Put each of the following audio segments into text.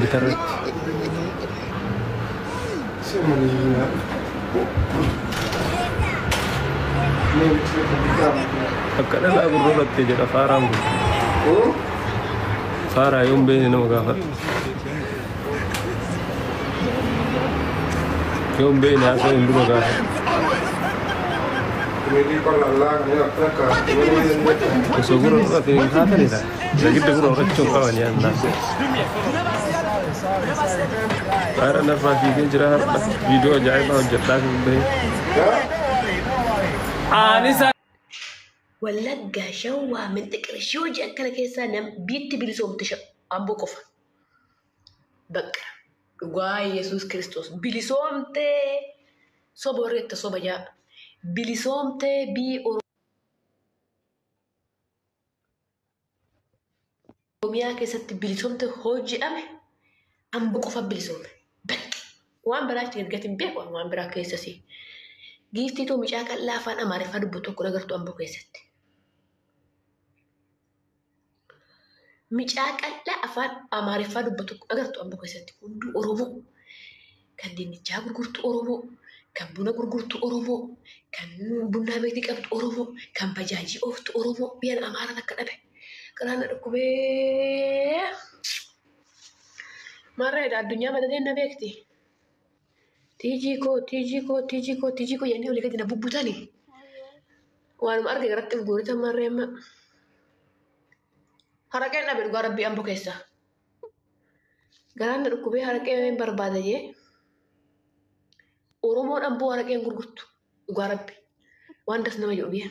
bitarratti. Akka dhalaa gurra battee jedha faaraan kun. Faaraa yoon beekne nama gaafadha. Yoon beekne haasa'u hin dura gaafadha. Osoo gurra fudhatee hin haatanidha. Zagidda bro rakkoo qaban yaa Allah. Haadha narraa fiigee jira har'a viidiyoo ajaa'ibaa hojjedhaa kan bahe. Wallaggaa shawwaa minxiqir ishii hojii akkana keessaa nam biitti bilisoomte sha- amboo qofa. Bakka dhugaa Yesuus Kiristoos bilisoomtee soba warri itti soba jaa bilisoomtee bii Oromiyaa keessatti bilisomte hoo jedhame ambo qofa bilisome. Bakki waan biraa itti ergatiin beeku waan biraa keessasii. Giiftii too mucaa qal'aa afaan Amaariffaa dubbu tokko agartu ambo keessatti. Mucaa qal'aa afaan Amaariffaa dubbu tokko agartu ambo keessatti hunduu Oromoo. kan dinnichaa gurgurtu Oromoo, kan buna gurgurtu Oromoo, kan bunnaa beetii qabdu Oromoo, kan bajaajii ooftu Oromoo biyyan Amaara takka dhabe. Garaan na dhukkubee. Maarree egaa addunyaa madateen na beekti. Tiijii koo, tiijii koo, tiijii koo, tiijii koo jennee olii gadi na bubbutani. Waanuma arge irratti of guuritan maarree amma. Haraqeen dhabe dhugaa rabbii ambo keessaa. Garaan na dhukkubee haraqee barbaada jee. Oromoon amboo haraqee hin gurgurtu. Dhugaa rabbi. Waan das nama jedhu biyya.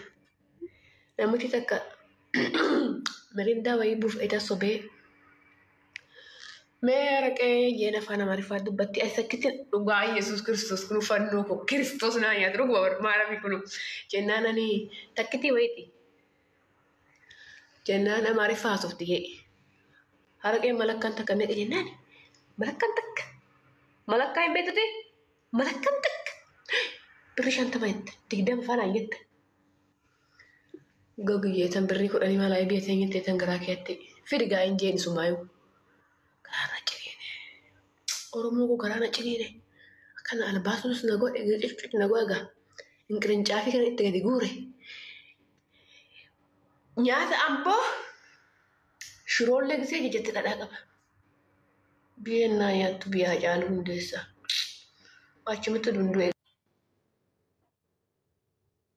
Namichi takka mirindaa wayii buuf eda sobee. Mee haraqee jeen afaan amaariffaa dubbatti as akkitti dhugaa Yesuus Kiristoos kun fannoo koo Kiristoos naa nyaatu dhuguma maarami kun jennaan ani takkitii wayiiti. Jennaan Amaariffaa haasofti jee. Haraqeen malakkaan takka meeqa jennaan? Malakkaan takka. Malakkaa hin beektu ta'e? Malakkaan takka. Birri shantama jette. Digdama faanaan jette. Gogi jeetan birrii kudhanii maalaa eebii jeteen jettee tan garaa keetti. Fidi gaa hin jeen sumaayuu. Garaa na ciniine. Oromoo koo garaa na ciniine. Akkana albaasuus na godhe, giciccuc na godhe gaa. Inqirincaafii kana itti gadi guure. Nyaata amboo shiroollee gisee jijatti dhadhaa qaba. Biyyeen naa nyaattu biyyaa caalu hundeessa. Achumatti dunduu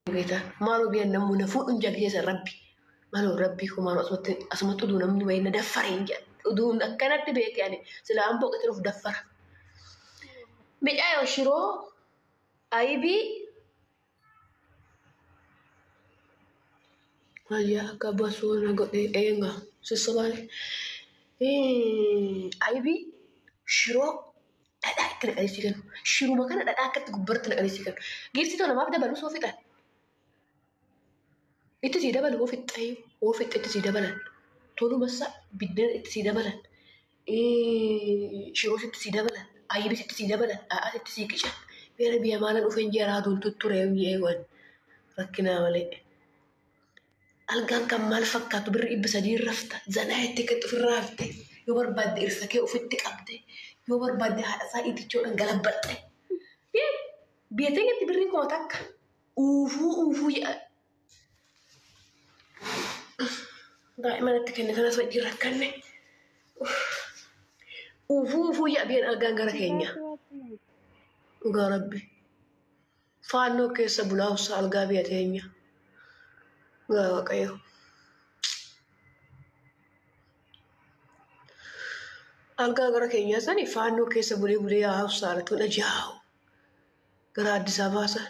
eegata. Maaloo biyyeen namuu na fuudhuun jalgeessa rabbi. Maaloo rabbi koo maaloo asumatti asumatti uduu namni wayii na daffare hin jedha. Uduu akkanatti beekee ani sila amboo qixxee of daffara. Micaayoo shiroo ayibii Ayyaa akka basuu na godhee eenga sissobaan aybii shiroo dhadhaa itti naqanii sii kennu. Shiruma kana dhadhaa akkatti gubbarratti naqanii sii kennu. Giiftii too namaaf dabaluu soo fixan. Itti sii dabalu hoo fixxee hoo fixxe itti sii dabalan. Toluma isaa biddeen itti sii dabalan. Shiroo sitti sii dabalan, ayyibi sitti sii dabalan, dhadhaa sitti sii qican. Beera biyya maala dhufe injeeraa aduun tutture eewan rakkinaa malee. Algaan kan maal fakkaatu birri dhibba sadii rafta zanaa jettee kan ofirraa hafte yoo barbaadde irsa kee ofitti qabde yoo barbaadde haadha isaa itichoodhaan galabbatte. Biyya teenyatti birriin kuma takka uufuu uufuu jedhan. daa'ima natti kenne kanas wajjin rakkanne uufuu uufuu yaabiyeen argaan gara keenya dhugaa rabbi faannoo keessa bulaa ussa algaa biyya teenya dhugaa waaqayyo algaa gara keenyaa sani faannoo keessa bulee bulee yaa ussa alatuun ajaa'u gara Addis Ababaa sana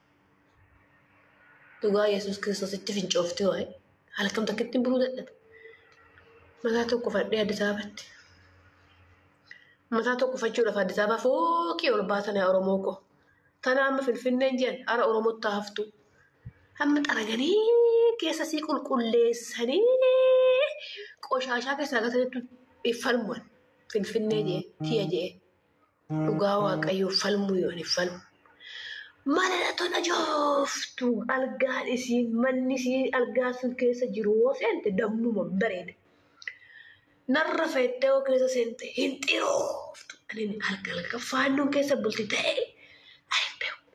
Dhugaa Yesuus Kiristoositti fincooftee waa'ee halkan takkitti buluu dadhabe. Mataa tokko fadhee Addis Ababatti. Mataa tokko fachuudhaaf Addis Ababaa fooqii ol baatan yaa Oromoo koo. Tana amma Finfinneen jiran ara Oromootti haftu. Amma xaraganii keessa sii qulqulleessanii qoshaashaa keessaa gatanitti falmuwan Finfinnee jee tiya jee. Dhugaa waaqayyoo falmuu yoon hin falmu. Mana na tona jooftu algaan isiin manni isiin algaan sun keessa jiru yoo seente dammuma bareeda. Narra feettee yoo keessa seente hin xirooftu. Ani alga alga faannoon keessa bulti ta'ee ani beeku.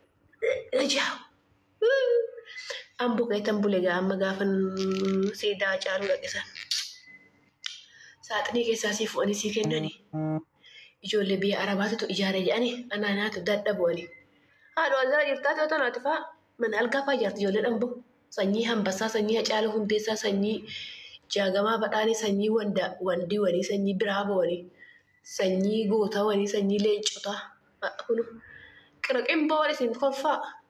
Ijaa. An buqeetan bule gaa amma gaafa siidaa caaluu dhaqisan. Saaxinii keessaa sii fu'anii sii kennanii. Ijoollee biyya arabaatitu ijaare jedhanii anaa naatu dadha bu'anii. Haadhu algaa jirtaa ta'uu tanaati faa mana algaa faa ijaarti ijoollee dhambo. Sanyii hambassaa sanyii hacaaluu hundeessaa sanyii jaagamaa badhaanii sanyii wanda wandii wanii sanyii biraaboo wanii sanyii gootaa wanii sanyii leencotaa. Kunu qiraqimboo wani isin kolfaa.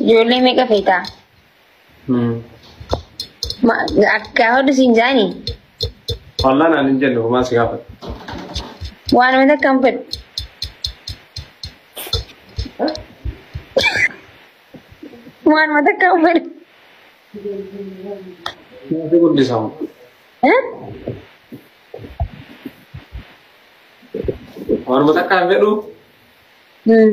Ijoollee meeqa feetaa? Ma- Akka hodhu siin jaani Wallaan aan hin jenne homaa si gaafata. waan mata kan fedhu. Waan mata kan fedhu. Naaf guddisaa. Eh? Waanuma takka hin fedhu. Hmm.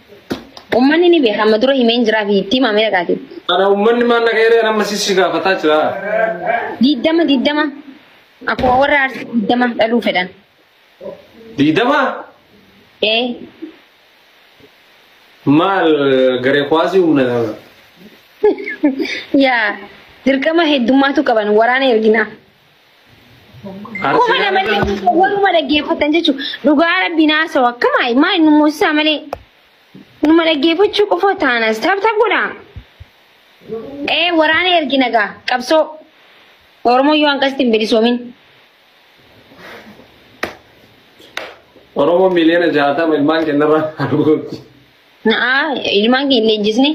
Ummanni ni beeka amma dura himeen jiraa fi itti himamee dhaqaati. Ana ummanni maal na gaheeree amma sissi gaafataa jira. Diddama diddama akkuma warra arsii diddama dhaluu fedhan. Diidama Ee maal garee kuwaasii humna dama. yaa dirqama heddummaatu qaban waraana erginaa. Akkuma namallee waruma dhaggeeffatan jechuudha. Dhugaa rabbiin haasa'u akkama maa inni moosisaa malee numa dhaggeeffachuu qofa taanas taphata godha. Ee waraana ergina gaa qabsoo Oromoo yoo hanqasti hin bilisoomin. Oromoo miliyoona jaatama ilmaan kennarraa arguutti. Na'aa ilmaan keenya leenjisne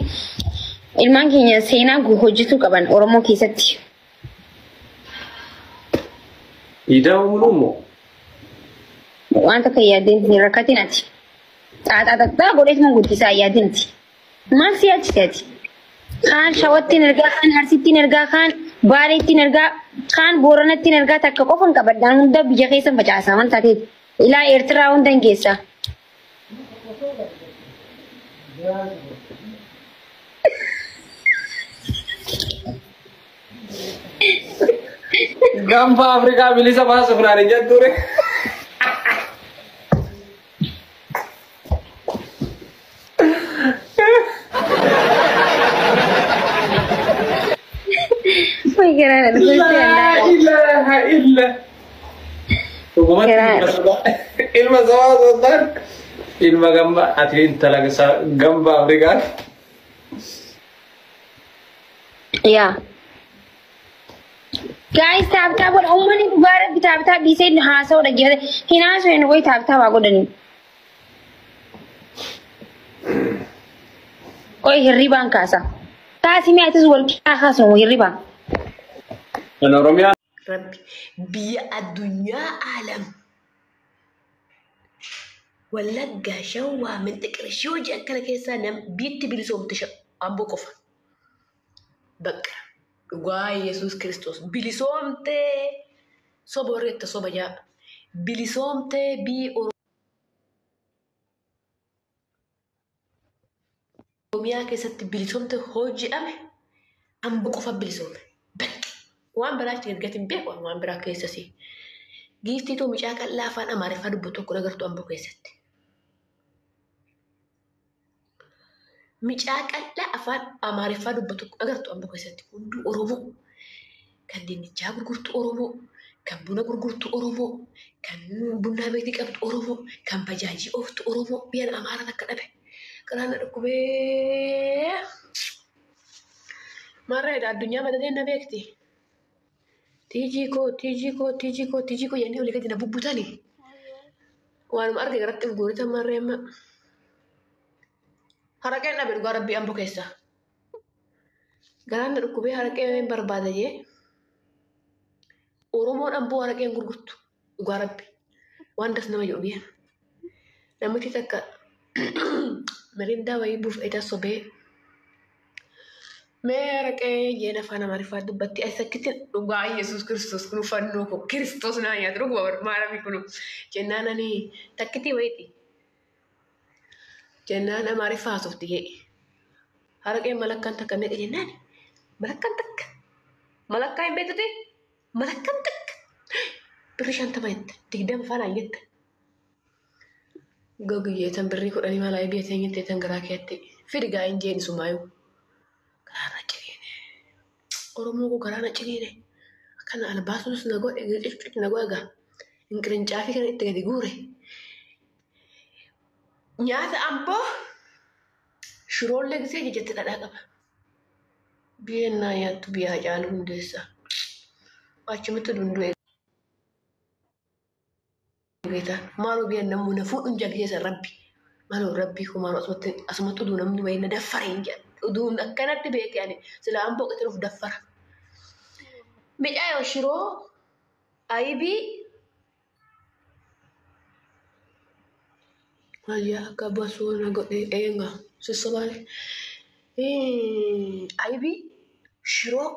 ilmaan keenya seenaa hojjetuu qaban Oromoo keessatti. Diidaa muluu moo? Waan takka yaadeen hin rakkatin ati. Xaaxaa xaxaa godhees mun guddisaa yaadin ati. Maal si yaachise ati? Kaan shawattiin ergaa, kaan harsittiin ergaa, kaan baaleettiin ergaa, kaan booranattiin ergaa takka qofan qabadhaan hunda biyya keessan facaasaa waan taateef. Ilaa Eertiraa hunda hin geessaa. Gaanfa Afrikaa bilisa baasuuf naan hin jettuure. Wai gara da Laa ilaaha illa. Dhugumatti Kiraadha. ilma sabaa- ilma sabaa osoo hin taane ilma gambaa ati intala sa- gambaa Afrikaan Yaa. Gaayis taaptaa godha. Uummanni dhugaa rabbi taaptaa dhiisee haasa'uu dhaggeeffate. Hin haasa'u hin wayi taaptaa waa godhani. Qoy hirribaan kaasa. Kaasi mi'a atis wal qixaa kaasnu hirribaan. kan Oromiyaa Rabbi biyya addunyaa aalam wallaggaa shawwaa minxiqirshoo jedhan kana keessaa nam biitti bilisoomte amboo qofa bakka dhugaa yesus kiristoos bilisoomtee soba warri itti soba jaa bilisoomtee bii Oromiyaa keessatti bilisomte hoo jedhame amba qofa bilisome. Bakki waan biraa itti ergati hin beeku waan biraa keessasi. Giiftii too mucaa qal'aa afaan Amaariffaa dubbatu tokko nagartu amboo keessatti. Mucaa qal'aa afaan Amaariffaa dubbatu tokko nagartu amboo keessatti hunduu Oromoo. kan dinnichaa gurgurtu Oromoo, kan buna gurgurtu Oromoo, kan bunnaa beetii qabdu Oromoo, kan bajaajii ooftu Oromoo biyyan Amaara takka dhabe. Garaan na dhukkubee. Maarree egaa addunyaa madateen na beekti. Tiijii koo, tiijii koo, tiijii koo, tiijii koo jennee olii gadi na bubbutani. Waanuma arge garatti hin guuritan maarree amma. Haraqeen dhabe dhugaa rabbii ambo keessaa. Gaanna dhukkubee haraqee barbaada jee Oromoon amboo haraqee hin gurgurtu dhugaa rabbi waan das nama jedhu biyya. Namichi takka mirindaa wayii buuf edaa sobee mee haraqee jeen afaan amaariffaa dubbatti as akkitti dhugaa yesus kiristoos kun fannoo koo kiristoos naa nyaatu dhuguma maarami kun jennaan ani takkitii wayiiti Jennaan Amaariffa haasofti hee. Haraqeen malakkaan takka meeqa jennaan? Malakkaan takka. Malakkaa hin beektuti? Malakkaan takka. Birri shantama jette. Digdama faanaan jette. Gogiyyee tan birrii kudhanii maalaa biyya teenyatti tan garaa keetti. Fidi gaa hin jeeni sumaayuu. Garaa maccee. Oromoo koo garaa na ciniine. Akkana albaasuus na godhe qicqic na godhe gaa. Inqirincaafi kana itti gadi guure. Nyaata amboo shiroollee gisee jijjatti dhadhaa qaba. Biyyeen naa nyaattu biyyaa caalu hundeessaa. Achumatti dunduu eega. Beeta maaloo biyan namuu na fuudhuun jaggeessa rabbi maaloo rabbi koo maaloo asumatti asumatti uduu namni wayii na daffare hin jedhan uduu akkanatti beekee ani sila amboo qixin of daffara. Midhaa yoo shiroo ayibii wayyaa akka basuu na godhe eenga sissabaale ayibii shiroo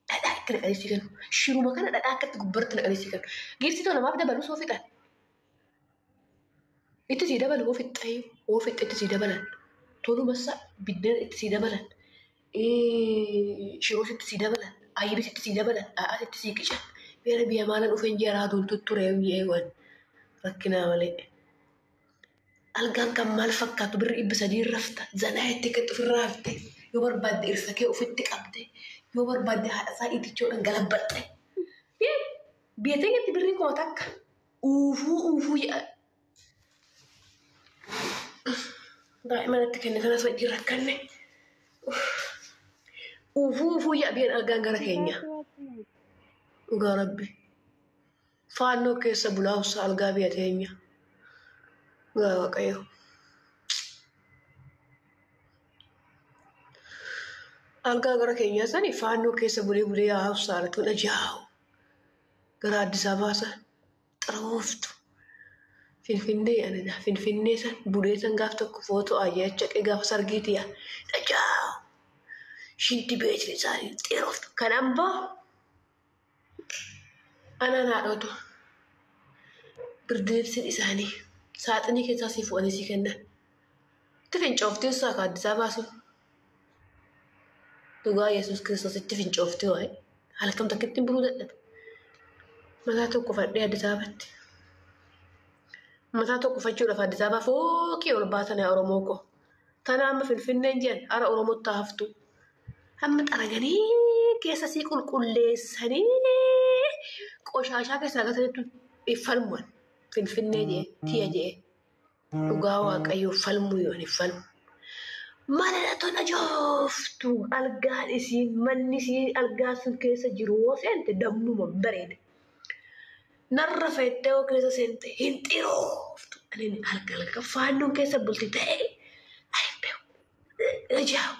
dhadhaa itti naqanii si kennu. Shiruma kana dhadhaa akkatti gubbarratti naqanii si kennu. Giiftii too namaaf dabalu soo fixan. Itti sii dabalu hoo fixxee hoo fixxee itti sii dabalan. Tolumassa biddeen itti sii dabalan. Shiroos itti sii dabalan. Ayyibis itti sii dabalan. Dhadhaas itti sii qican. Beera biyya maala dhufeen jaraa duun tutturee mi'eewwan rakkinaa malee. Algaan kan maal fakkaatu birri dhibba sadii rafta zanaa jettee kan ofirraa hafte yoo barbaadde irsa kee ofitti qabde yoo barbaadde haadha isaa itichoodhaan galabbatte. Biyya teenyatti birri kuma takka uufuu uufuu jedha. Daa'ima natti kenne kanas wajjin rakkanne. Uufuu uufuu jedha biyyan algaan gara keenya. Dhugaa rabbi. faannoo keessa bulaa hossa algaa biyya teenya. Dhugaa waaqayyo. Algaa gara keenyaa sani faannoo keessa bulee bulee yaa hossa altuun ajaa'u. Gara Addis Ababaa san xarawooftu. Finfinnee anina Finfinnee san bulee san gaaf tokko footoo ayyacha qee gaafa sargiiti yaa ajaa'u. Shinti beetiin isaanii xeeroftu. Kan ambaa Anaan haadhootu birdeebsiin isaanii saaxinii keessaa sii fu'anii sii kennan. Itti fincooftii ussaa ka addisaa baasuun. Dhugaa Yesuus Kiristoos itti fincooftii waa'ee halkan takkitti hin buluu dadhabe. Mataa tokko fadhee addisaa batte. Mataa tokko fachuudhaaf addisaa baa fooqii ol baatan yaa Oromoo koo. Tana amma Finfinneen jedhan ara Oromootti haftuu. Hamma xaraganii keessa sii qulqulleessanii qoshaashaa keessaa gatanitti hin falman. Finfinnee jee tiya jee dhugaa waaqayyoo falmuu yoo hin falmu. Mana na tola jooftu algaan isiin manni isiin algaan sun keessa jiru yoo seente dammuma hin bareeda. Narra feettee yoo keessa seente hin xirooftu. Ani alga alga faannoon keessa bulti ta'ee ani hin beeku. Rijaawu.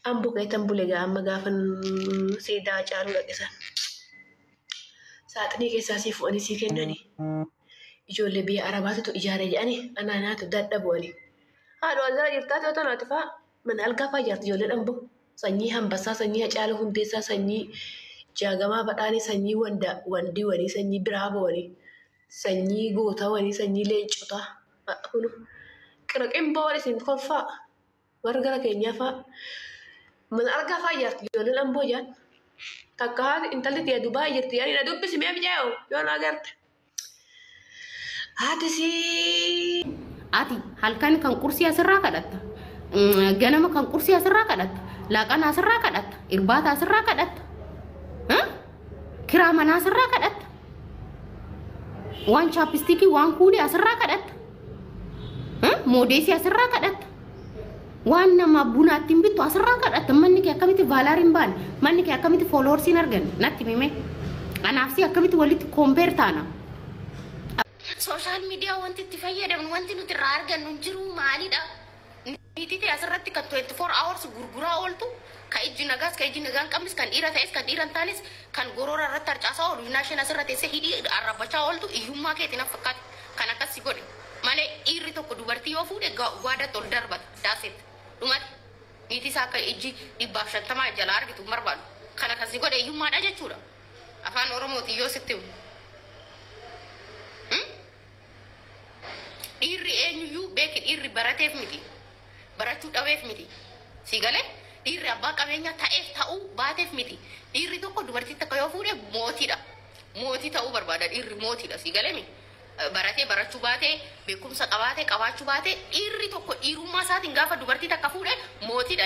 An bukeetan bule gaa amma gaafan siidaa Hacaaluu dhaqe san. Saaxinii keessaa sii fu'anii sii kennani. Ijoollee biyya Arabaatitu ijaare jedhani anaa naatu dadha bu'ani. Haadhu algaa jirtaa ta'uu tanaati faa mana algaa faa ijaarti ijoollee dhambo. Sanyii hambassaa, sanyii Hacaaluu hundeessaa, sanyii jaagamaa badhaanii, sanyii wanda wandii wanii, sanyii biraaboo wanii. sanyii gootawanii sanyii leencotaa kun qira qimboon isin kolfaa warra gara keenyaa faa mana argaa faa ijaarti ijoolleen amboo ijaan takka haati intalli tiyya dubaa jirti ani na dubbisi mee mijaa'u yoo na agarte haati sii ati halkan kan qursii asirraa kadhatta mm, ganama kan qursii asirraa kadhatta laaqana asirraa kadhatta irbaata asirraa kadhatta Kiraa manaa asirraa kadhatta. Waan chaappistiikii waan kuulii asirraa kadhatta. Eh, Moodeesii asirraa kadhatta. Waan nama buna ittiin bittu asirraa kadhatta. Manni kee akkamitti vaalaar hin baane? Manni kee akkamitti fooloorsi hin arganne? Natti himee. Anaaf si akkamitti walitti koompeer taana? Sooshaal miidiyaa wanti itti fayyadamnu wanti nuti irraa argannu hin jiru maalidha? Niitii tee asirratti kan 24 hours gurguraa ooltu, ka ijji nagaas, ka ijji nagaa hin qabnes, kan dhiira ta'es, kan dhiira hin taanes, kan goroora irratti harcaasaa oolu, ynaa isheen asirra teessee hidhii arrabbachaa ooltu hiyyummaa keeti naf fakkaata kan akkas si godhe. Malee dhiirri tokko dubartii yoo fuudhe gwaadatti ol darbata. That's it. Dhumate. Niitii isaa akka ijji dhibbaaf shantamaa jalaa argitu hin barbaadu. Kana kan si godhe hiyyummaa dha jechuu dha. Afaan Oromootiin yoo sitti himu. Dhiirri eenyuyyuu beeki dhiirri barateef miti barachuu dhabeef miti sii galee dhiirri abbaa qabeenyaa ta'eef ta'uu baateef miti dhiirri tokko dubartii takka yoo fuudhe mootiidha mootii ta'uu barbaada dhiirri mootiidha sii galee mi baratee barachuu baatee beekumsa qabaatee qabaachuu baatee dhiirri tokko dhiirummaa isaatiin gaafa dubartii takka fuudhe mootiidha.